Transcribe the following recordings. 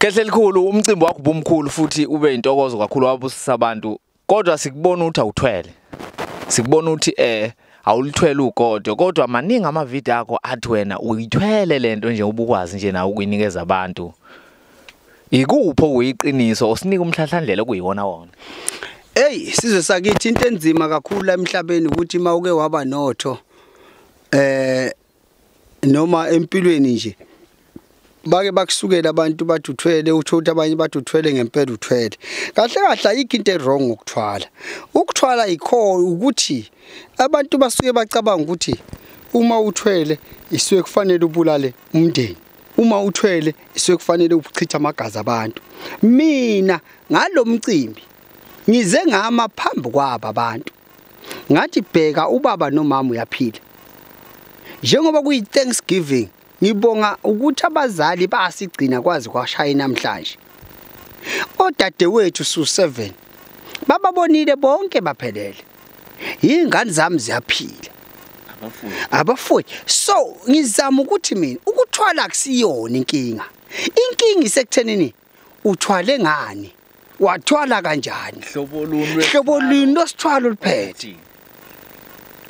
Kehle likhulu umcimbi wakho ubumkhulu futhi ube intokozo kakhulu wabusisa abantu kodwa sikubona ukuthi awuthwele sikubona ukuthi eh awulithwele ugodo kodwa maningi ama video akho athi wena uyithwele lento nje ubukwazi nje nawe ukuyinikeza abantu ikupho kuyiqiniso osinika umhlahlandlela okuyiwona wona Hey sizwe sakithi into enzima kakhulu la emhlabeni ukuthi mawuke waba notho eh noma empilweni nje bake bakusukela abantu bathi uthwele utho ukuthi abanye bathi uthwele ngempela uthwele kahle kahle ayikho into ewrong ngokuthwala ukuthwala ikho ukuthi abantu basuke bacabanga ukuthi uma uthwele isuke kufanele ubulale umndeni uma uthwele isuke kufanele uchitha amagazi abantu mina ngalomcimbi ngize ngama phambi kwaba abantu ngathi bheka ubaba nomama uyaphila njengoba kuyi Thanksgiving ngibonga ukuthi abazali basigcina kwazi kwashaya namhlanje odadewethu su 7 bababonile bonke baphelele ingane zami ziyaphila abafuyi abafuyi so ngizama ukuthi mina ukuthwala kusiyona inkinga inkinga isekuthenini uthwale ngani wathwala kanjani hlobo luni hlobo luni losithwalo liphethe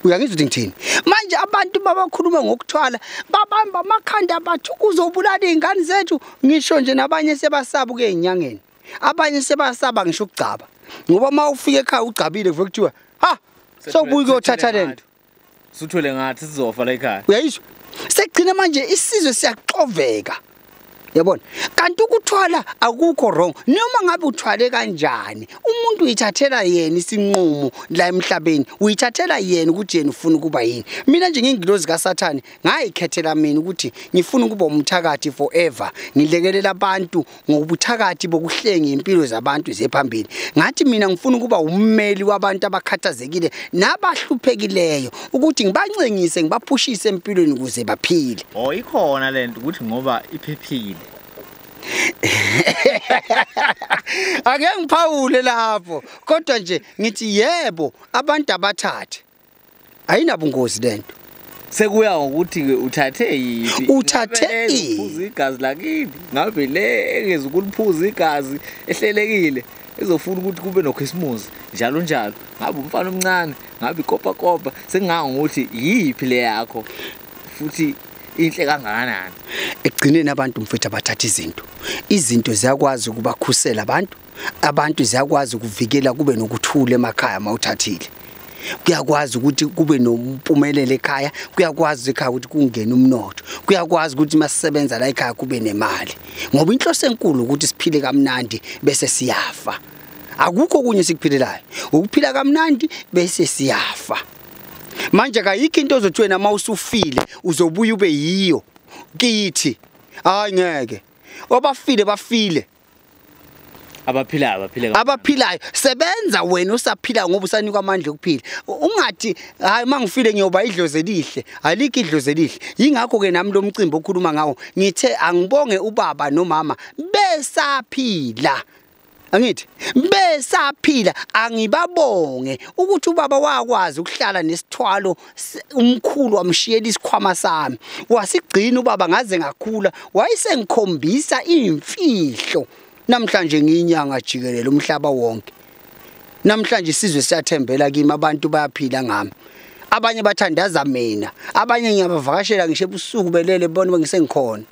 uyangizwa ukuthi ngithini manje abantu babakhuluma ngokuthwala babamba amakhanda abathi uzobulala izingane zethu ngisho nje nabanye sebasaba kuyenyangeni abanye sebasaba ngisho ukugcaba ngoba uma ufika ekhaya ugcabile kuve kuthiwa ha sobuye kuyothatha lento suthwele ngathi sizofa la ekhaya uyayizwa sekugcina manje isizwe siyaxoveka yabona kanti ukuthwala akukho wrong noma ngabe uthwale kanjani umuntu uyithathela yena isinqumo la emhlabeni uyithathela yena ukuthi yena ufuna ukuba yini mina nje ngingilozi kaSathane ngayikhethela mina ukuthi ngifuna ukuba umthakathi forever ngilekelela abantu ngokubuthakathi bokuhlenga impilo zabantu zephambili ngathi mina ngifuna ukuba ummeli wabantu abakhathazekile nabahluphekileyo ukuthi ngibancengise ngibaphushise empilweni ukuze baphile oh ikhona lento ukuthi ngoba iphephile ake ngiphawule lapho kodwa nje ngithi yebo abantu abathathe ayinabungozi lento sekuya ngokuthi ke uthathe yiphi uthathe iphuza igazi lakini ngabe le engeza ukuliphuza igazi ehlelekile ezofuna ukuthi kube nokhisimusi njalo njalo ngabe umfana omncane ngabe ikopa kopa sengingango ukuthi yiphi le yakho futhi inhle kangakanani ekugcineni abantu mfethu abathatha izinto izinto ziyakwazi ukubakhusela abantu abantu ziyakwazi ukuvikela kube nokuthula emakhaya mawuthathile kuyakwazi ukuthi kube nompumelelo ekhaya kuyakwazi ekhaya ukuthi kungene umnotho kuyakwazi ukuthi masisebenza la ekhaya kube nemali ngoba inhloso enkulu ukuthi siphile kamnandi bese siyafa akukho kunye sikuphilelayo ukuphila kamnandi bese siyafa manje kayikho into ozothi wena uma usufile uzobuya ube yiyo kithi hayi ngeke obafile bafile abaphilayo abaphile abaphilayo sebenza wena usaphila ngoba usanikwa amandla okuphila ungathi hayi mangifile ngiyoba idlozi elihle alike idlozi elihle yingakho ke nami lo mcimbi okhuluma ngawo ngithe angibonge ubaba nomama besaphila angithi besaphila angibabonge ukuthi ubaba wakwazi ukuhlala nesithwalo umkhulu wamshiyela isikhwama sami wasigcina ubaba ngaze ngakhula wayesengikhombisa imfihlo namhlanje ngiyinyanga jikelele umhlaba wonke namhlanje isizwe siyathembela kimi abantu bayaphila ngami abanye bathandaza mina abanye ngiyabavakashela ngisho ebusuku belele bona bengisengikhona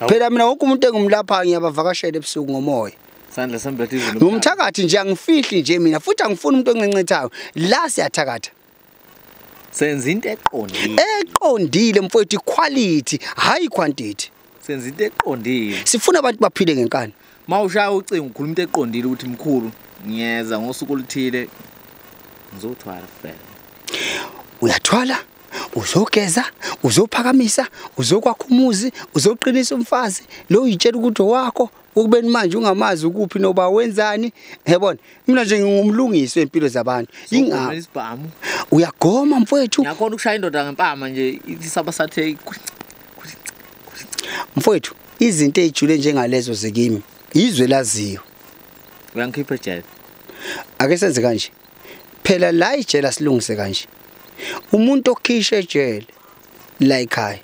phela mina wonke umuntu engimlaphayo ngiyabavakashela ebusuku ngomoya sandla sami bhati izulu ngumthakathi nje angifihli nje mina futhi angifuni umuntu oncencethayo la siyathakatha senza into eqondile eqondile mfowethu quality hayi quantity senza into eqondile sifuna abantu baphile ngenkani mawushaya ucingo ukhuluma into eqondile ukuthi mkhulu ngiyeza ngosuku oluthile ngizothwala kuphela uyathwala uzogeza uzophakamisa uzokwakha umuzi uzoqinisa umfazi lo uyitshela ukuthi owakho ukubeni manje ungamazi ukuphi noba wenzani yabona mina nje ngingumlungisi wempilo zabantu inga isibhamu uyagoma mfowethu ngiyakhona ukushaya indoda ngempama nje isaba sathe mfowethu izinto ezijule njengalezo zekimi izwe laziyo uyangikhipha ejele ake senze kanje phela la ijele silungise kanje umuntu okhisha ejele la ekhaya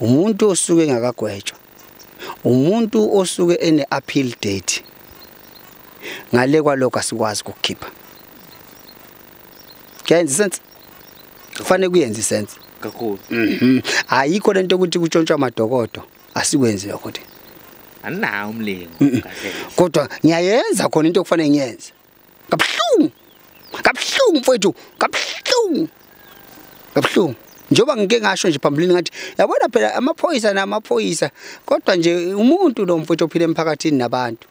umuntu osuke engakagwetshwa umuntu osuke ene appeal date ngale kwalokho asikwazi ukukhipha kuyenza sense kufanele kuyenze sense kakhulu mhm ayikho lento ukuthi kutshontshwa amadokodo asikwenzi lokho nje aninawo umlingo mm. kodwa ngiyayenza khona into okufanele ngiyenze kabuhlungu kabuhlungu mfowethu kabuhlungu kabuhlungu njengoba ngike ngasho nje phambilini ngathi yabona phela amaphoyisa namaphoyisa kodwa nje umuntu lo mfowethu ophila emphakathini nabantu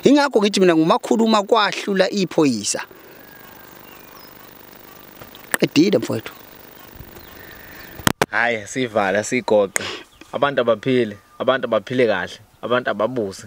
ingakho ngithi mina ngumakhuluma kwahlula iphoyisa qedile mfowethu hayi sivala sigoqe abantu abaphile abantu abaphile kahle abantu ababuse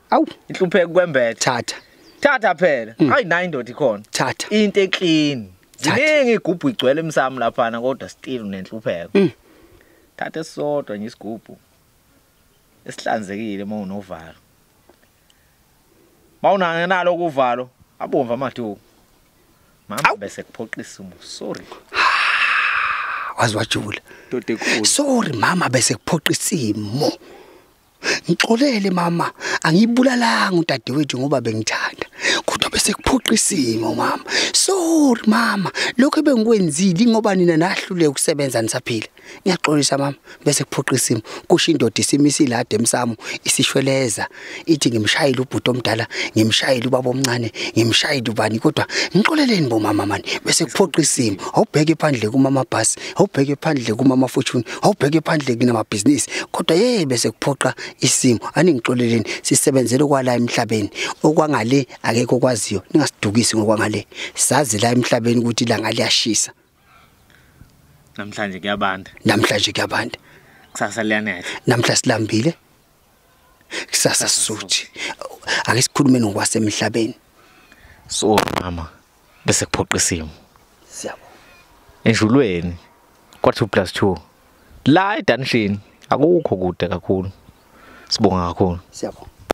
awu ihlupheka kwembethe thatha thatha phela mm. hayi nayi indoda ikhona thatha into eclean ziningi igubhu igcwele emsamo laphana kodwa still unenhlupheko mm. thatha esisodwa nje isigubhu esihlanzekile uma unovalo mawunana nalo kuvalo abomva amathuku mama bese kuphoqisa umu sorry wazi wajula sorry mama bese kuphoqa isimo Ngixolele mama, angibulalanga udadewethu ngoba bengithanda. Kodwa bese kuphoqa isimo mama. Sorry mama, lokho ebengikwenzile ngoba nina nahlule ukusebenza nisaphila. Ngiyaxolisa mama, bese kuphoqa isimo. Kusho indoda isimisile ade emsamo isishweleza. Ithi ngimshayile ubhuti omdala, ngimshayile ubaba omncane, ngimshayile ubani kodwa ngixoleleni bo mama mani. Bese kuphoqa isimo. Awubheke phandle kumama bus awubheke phandle kumama fortune awubheke phandle kunamabhizinisi kodwa yeye bese kuphoqa isimo aningixoleleni sisebenzele kwala emhlabeni okwangale akekho kwaziyo ningasidukisi ngokwangale sazi la emhlabeni ukuthi ilanga liyashisa namhlanje kuyabanda namhlanje kuyabanda kusasa liyanetha namhla silambile kusasa suthi ake sikhulume nokwasemhlabeni so mama bese kuphoqa isimo siyabo enjulweni kwa 2 plus 2 la edanishini akukho kude kakhulu sibonga kakhulu siyabo